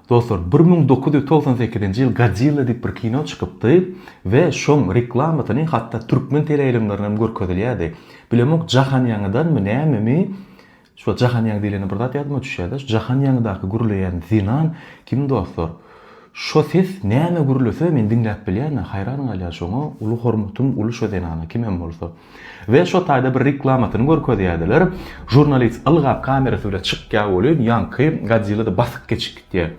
Dostlar bir müň dokuz ýüz togsan sekizinji ýyl Godzilla diýip bir kino çykypdy we şoň reklamasyny hatda türkmen teleýaýlymlarynda hem görkezilýärdi. Bilemok Jahan ýaňydanmy nämemi şo Jahan ýaňy diýlende bir zat ýadyma düşýärde şu Jahan ýaňydaky gürleýän Zenan kim dostlar? Şo ses näme gürlese men diňläp bilýän-ä haýran galýan şoňa uly hormatym uly şo Zenana kimem bolsa. we şo taýda bir reklamasyny görkezýärdiler, žurnalist ylgap kamerasy bilen çykýar welin ýaňky Godzilla-da basyp geçip gitýär.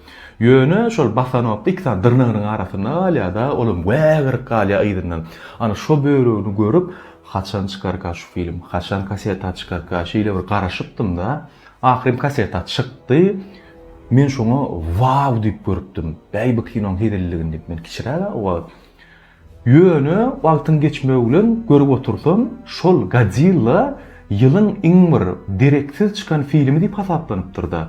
Ýöne şol basanokda iki sany dyrnagynyň arasynda galýar-da, olam wägirip galýar yzyndan. Ana şo bölegini görüp, haçan çykarka şu film, haçan kasseta çykarka şeýle bir garaşypdym-da, ahyryn kasseta çykdy, men şoňa waw diýip görüpdim, bäý bu kinoň hezilligini diýip men kiçiräk-ä o wagt. Ýöne wagtyň geçmegi bilen görüp otursam, şol Godzilla ýylyň iň bir dereksiz çykan filmi diýip hasaplanypdyr-da.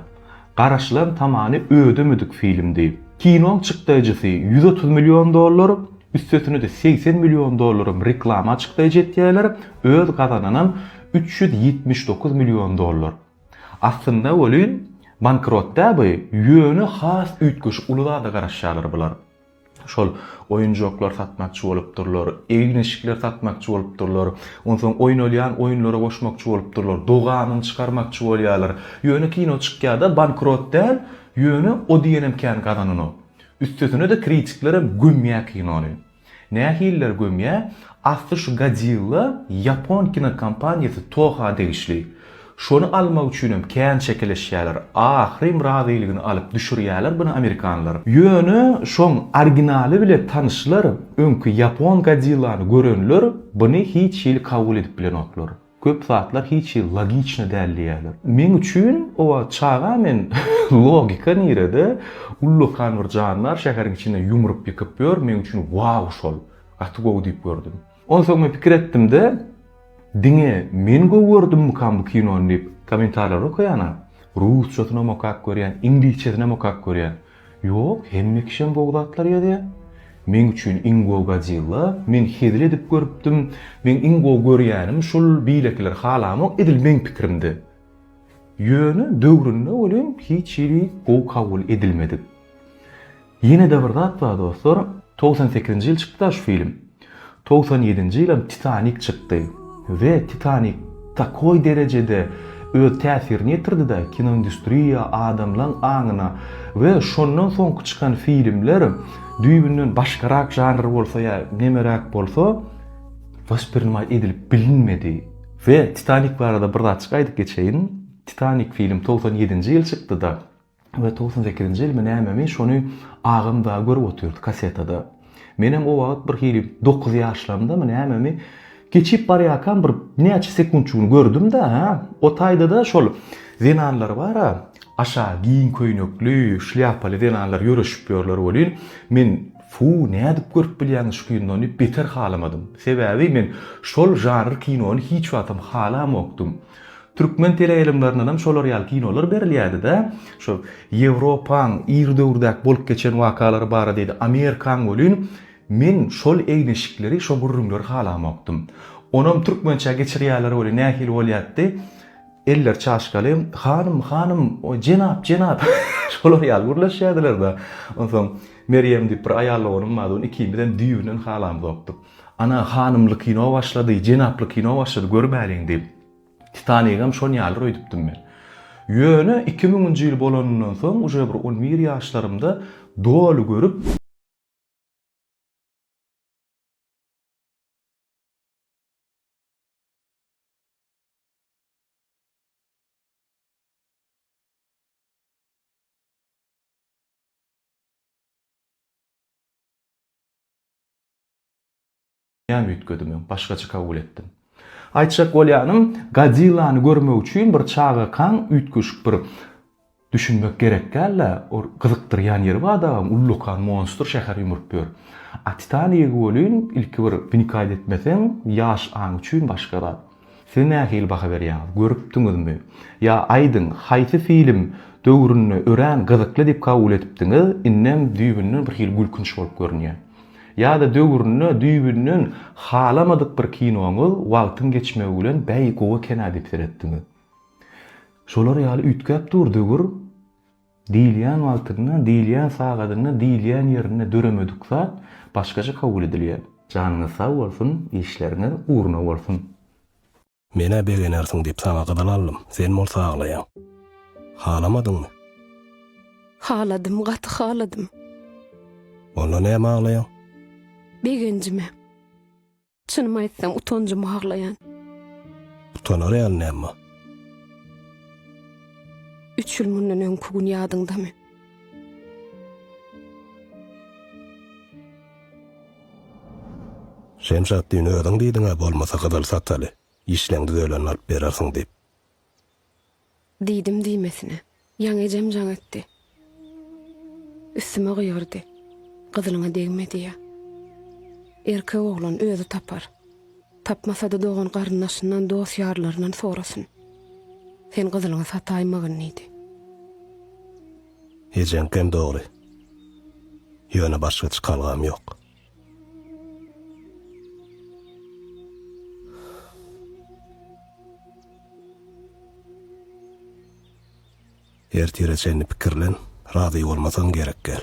Garaşylan tamany ödemedik filmdi. Kinoň çykdaýjysy ýüz otuz million dollar, üstesine-de segsen million dollaram reklama çykdaýjy etýärler, öz gazananam üç ýüz ýetmiş dokuz million dollar. Aslynda welin, bankrot däl bu, ýöne has üýtgeşik uly zada garaşýarlar bular. Şol oýunjaklar satmakçy bolupdyrlar, egin-eşikler satmakçy bolupdyrlar. Onsoň oýnalýan oýunlara goşmakçy bolupdyrlar. Dogamyny çykarmakçy bolýarlar. Ýöne kino çykýar-da, bankrot däl, ýöne o diýenem kän gazananok. Üstesine-de kritiklerem gömýär kinony. Nähililer gömýär? Asly şu Godzilla ýapon kinokompaniýasy Toha degişli. Şony almak üçinem kän çekeleşýäler. Ahyrym razylygyny alyp düşürýäler buny amerikanlar. Ýöne şoň originaly bilen tanyşlar, öňki ýapon Godzillany görenler buny hiç hili kabul edip bilenoklar. Köp zatlar hiç hili logiçny däl diýýäler. Meň üçin o wagt çaga men logika nirede, ullakan bir jandar şäheriň içinde ýumrup ýykyp ýör, meň üçin wow şol, gaty gowy diýip gördüm. Onsoň men pikir etdim-de, diňe men gowy gördümmikam bu kinony diýip, kommentarlary okaýan-a, rusçasynam okap görýän, iňlisçesinem okap görýän. Ýok, hemme kişem gowy zatlar ýazýar. Meň üçin iň gowy Godzilla, men hezil edip görüpdim, meň iň gowy görýänim şul, beýlekileri halamok, edil meň pikirimdi. Ýöne döwründe welin hiç hili gowy kabul edilmedik. Ýene-de bir zat bar dostlar, togsan sekizinji ýyl çykdy-da şu film. Togsan ýedinji ýylam Titanik çykdy we Titanik takoý derejede öz täsirini ýetirdi-de kinoindustriýa, adamlaň aňyna we şondan soňky çykan filmler düýbünden başgarak žanr bolsa ýa nemeräk bolsa wasprinimay edilip bilinmedi we Titanik barada bir zatjyk aýdyp geçeýin, Titanik film togsan ýedinji ýyl çykdy-da, we togsan sekizinji ýylmy nämemi şony agam dagy görüp otyrdy kassetada. Menem o wagt bir hili dokuz ýaşlamdamy nämemi geçip barýarkam bir näçe sekunçugyny gördüm-de hä, o taýda-da şol zenanlar bar-a, aşa giň köýnekli, şlýapaly zenanlar ýöreşip ýörler welin, men Fu, nädip görüp bilýäňiz şu kinony diýip beter halamadym. Sebäbi men şol žanr kinony hiç wagtam halamokdym. Türkmen teleýaýlymlaryndanam şolar ýaly kinolar berilýärdi-de, şo Ýewropaň ir döwürdäki bolup geçen wakalary baradaýdy, Amerikaň welin, men şol egin-eşikleri, şo gürrüňleri halamokdym. Onam türkmençä geçirýärler welin, nähili bolýardy, eller çaşkaly, Hanym, hanym, o jenap, jenap, şolar ýaly gürleşýärdiler-de. Onsoň Merýem diýip bir aýal doganym bardy, ony ikimizem düýbünden halamzokdyk. Ana, hanymly kino başlady, jenaply kino başlady, görüberiň diýip, Titanigem şon ýalydyr öýdüpdim men. Ýöne iki müňünji ýyl bolanyndan soň, uje bir on bir ýaşlarymda doly görüp, Näme üýtgedi men başgaça kabul etdim. Aýtjak bolýanym Godzillany görmek üçin bir çagakaň üýtgeşik bir düşünmek gerek dälä or gyzykdyrýan ýeri bar dagam ullakan monstr şäher ýumrup ýör. A Titanigi welin ilki bir wnikayt etmeseň ýaş aň üçin başga zat. Siz nähili baha berýäňiz? Görüpdiňizmi? Ýa aýdyň, haýsy film döwründe örän gyzykly diýip kabul edipdiňiz, indem düýbünden bir hili gülkünç bolup görünýär? Ýa-da döwründe düýbünden halamadyk bir kinoňyz wagtyň geçmegi bilen bäý gowy eken-ä diýip seretdiňiz? Şolar ýaly üýtgäp dur döwür. Diýilýän wagtynda, diýilýän sagadynda, diýilýän ýerinde döremedik zat başgaça kabul edilýär. Janyňyz sag bolsun, işleriňiz ugruna bolsun. Menä begenersiň diýip saňa gyzyl aldym, sen bolsa aglaýaň. Halamadyňmy? Haladym, gaty haladym. Onda näme aglaýaň? Begenjime. Çynymy aýtsam, utanjyma aglaýan. Utanar ýaly näme bar? Üç ýyl mundan öňki gün ýadyňdamy? Şemşat düýn özüň diýdiň-ä bolmasa gyzyl sataly, işleň düzelende alyp berersiň diýip. Diýdim diýmesine, ýaňy ejem jaň etdi. Üstüme gygyrdy, Gyzylyňa degme diýýä. Erkek oglan özi tapar. Tapmasa-da dogan-garyndaşyndan, dost-ýarlaryndan sorasyn. Sen gyzylyňy sataýmagyn diýdi. Ejeňkem dogry. Ýöne başga çykalgam ýok. Ertire çenli pikirlen, razy bolmasaň gerek gel.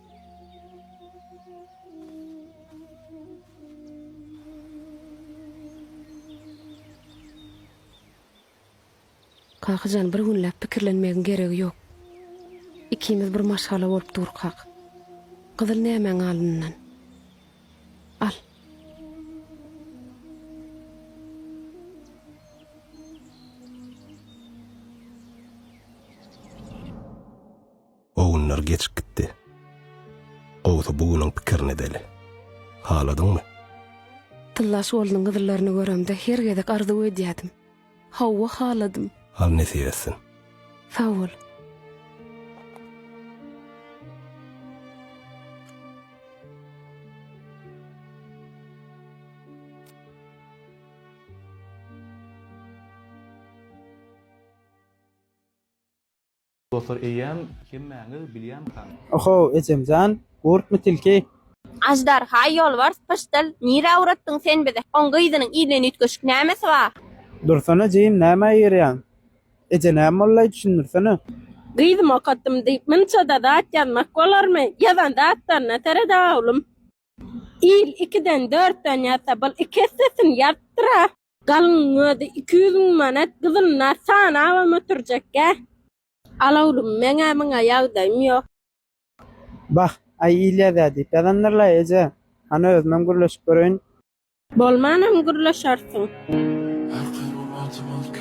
Kakajan bir günläp pikirlenmegiň geregi ýok. Ikimiz bir maşgala bolup durkak. Gyzyl nämäň alnyndan. Al. O günler geçip gitdi. Gowsy bu günüň pikirini edeli. Haladyňmy? Tylla şgolunyň gyzlaryny göremde her gezek arzuw edýärdim. Hawa, haladym. Al nesip etsin. Sag bol. Dostlar eýýäm hemmäňiz bilýänmikan? Ohow ejemjan gurpmy tilki. Aždarha ýolbars pyşdyl nirä ugratdyň sen bizi oň gyzynyň yzyndan üýtgeşik nämesi bar. Dursana jigim nämä ýyrýaň. Eje näme bollaý düşündirsene. Gyzym okatdym diýip munçada zat ýazmak bolarmy ýazan zatlaryna sereda oglum. Il ikiden dörtden ýazsa bul iki essesin ýazypdyra. Galyňyň özi iki ýüz müň manat gyzylyna sanabam oturjakgä. Al oglum meňä muňa ýagdaýym ýok. Bah, aý il ýazýa diýip ýazandyr-laý eje. Hany özümem gürleşip göreýin. Bolmanam gürleşersiň.